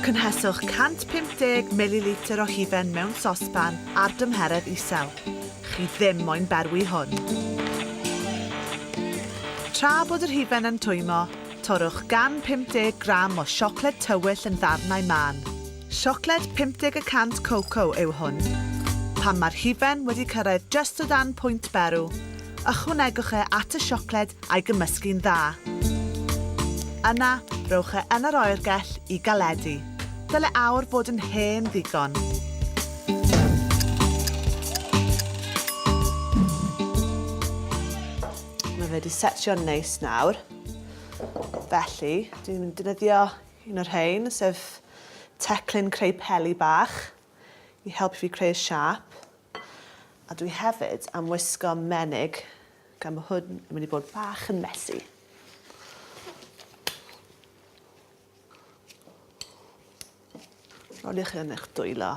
Cynheswch 150 mililitr o hufen mewn sosban ar dymheredd isel. Chi ddim moyn berwi hwn. Tra bod yr hufen yn twymo, torrwch gan 50 gram o siocled tywyll yn ddarnau mân. Siocled 50 y cant Coco yw hwn. Pan mae'r hufen wedi cyrraedd just o dan pwynt berw, ychwanegwch e at y siocled a'i gymysgu'n dda. Yna, rhowch e yn yr oergell i galedu. Dyle aur fod yn hen ddigon. Mae fe wedi setio'n neis nawr. Felly, dwi'n mynd i defnyddio Un o'r rhein, sef teclyn creu peli bach i helpu fi creu'r siâp. A dwi hefyd am wisgo menig, gan bod hwn yn mynd i bod bach yn messy. Roliwch hyn yn eich dwylo.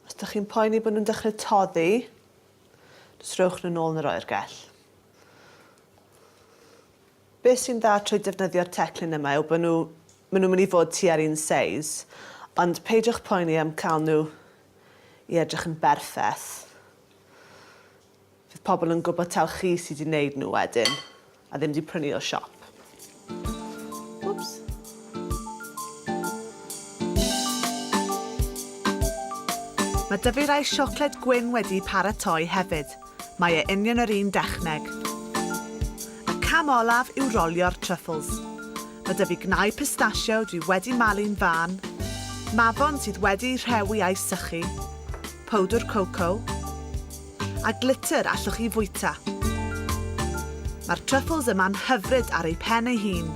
Os ydych chi'n poeni bod nhw'n dechrau toddi, jyst rhowch nhw'n ôl yn yr oergell. Beth sy'n dda trwy defnyddio'r teclyn yma yw bod nhw, maen nhw'n mynd i fod tua'r un seis, ond peidiwch poeni am cael nhw i edrych yn berffeth. Fydd pobl yn gwybod taw chi sydd wedi wneud nhw wedyn, a ddim wedi prynu o siop. Wps. Mae dyfeirau siocled gwyn wedi paratoi hefyd, mae e union yr un dechneg. Y cam olaf yw rolio'r truffles. Mae 'da fi gnau pistachio dwi wedi malu'n fân, mafon sydd wedi'u rhewi a'u sychu, powdwr coco, a glitter allwch chi fwyta. Mae'r truffles yma'n hyfryd ar eu pen ei hun.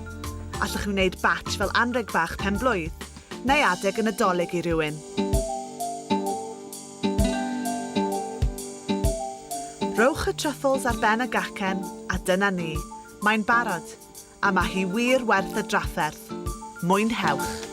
Allwch chi wneud batch fel anrheg bach pen-blwydd, neu adeg y Nadolig i rywun. Rhowch y truffles ar ben y gacen a dyna ni, mae'n barod, a mae hi wir werth y drafferth. Mwynhewch!